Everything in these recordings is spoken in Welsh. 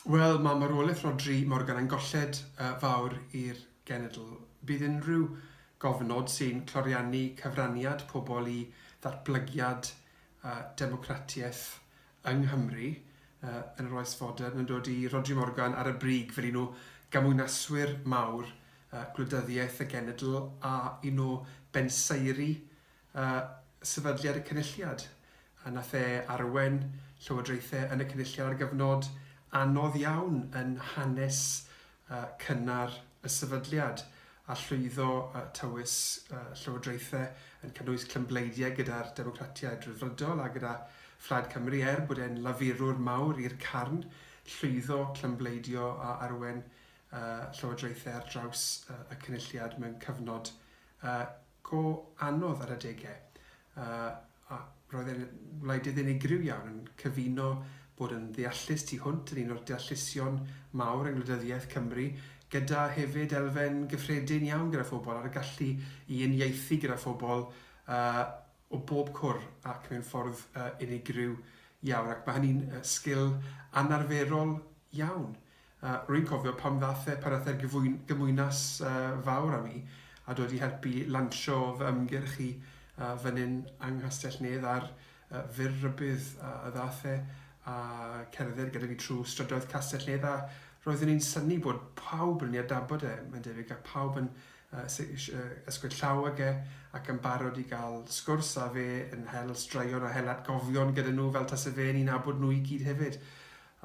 Wel, mae marwolaeth Rhodri Morgan yn golled fawr i'r genedl. Bydd unrhyw gofnod sy'n cloriannu cyfraniad pobl i ddatblygiad a democratiaeth yng Nghymru yn yr oes fodern yn dod i Rhodri Morgan ar y brig fel un o gamwynaswyr mawr gwleidyddiaeth y genedl a un o bensaeri a sefydliad y Cynulliad, a na the arwen llywodraethau yn y Cynulliad ar gyfnod anodd iawn yn hanes cynnar y sefydliad, a llwyddo tywys llywodraethau yn cynnwys clymbleidiau gyda'r Democratiaid Rhyddfrydol a gyda Phlaid Cymru, er bod e'n lafurwr mawr i'r carn, llwyddo clymbleidio a arwen llywodraethau ar draws y Cynulliad mewn cyfnod go anodd ar adegau. Yy a roedd e'n wleidydd unigryw iawn yn cyfuno bod yn ddeallus tu hwnt yn un o'r deallusion mawr yng ngwleidyddiaeth Cymru gyda hefyd elfen gyffredin iawn gyda phobl a'r gallu i uniaethu gyda phobl yy o bob cwr ac mewn ffordd yy unigryw iawn ac mae hynny'n yy sgil anarferol iawn. Rwy'n cofio pan ddaeth e, pan ddaeth e'r gymwynas fawr â mi, a dod i helpu lansio fy ymgyrch i fan hyn yng Nghastell-nedd a'r fur rhybudd a ddaeth e a cerdded gyda fi trwy strydoedd Castell-nedd a roeddwn i'n synnu bod pawb yn ei adnabod e, mae'n debyg, a phawb yn ysgwyd llaw ag e ac yn barod i gael sgwrs â fe yn hel straeon a hel atgofion gyda nhw fel tase fe'n eu nabod nhw i gyd hefyd.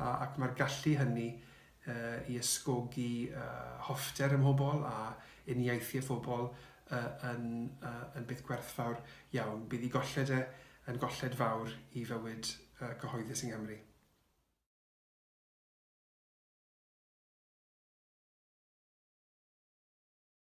ac mae'r gallu hynny i ysgogi hoffter ym mhobl a uniaethu â phobl yn beth gwerthfawr iawn. Bydd ei golled e yn golled fawr i fywyd cyhoeddus yng Nghymru.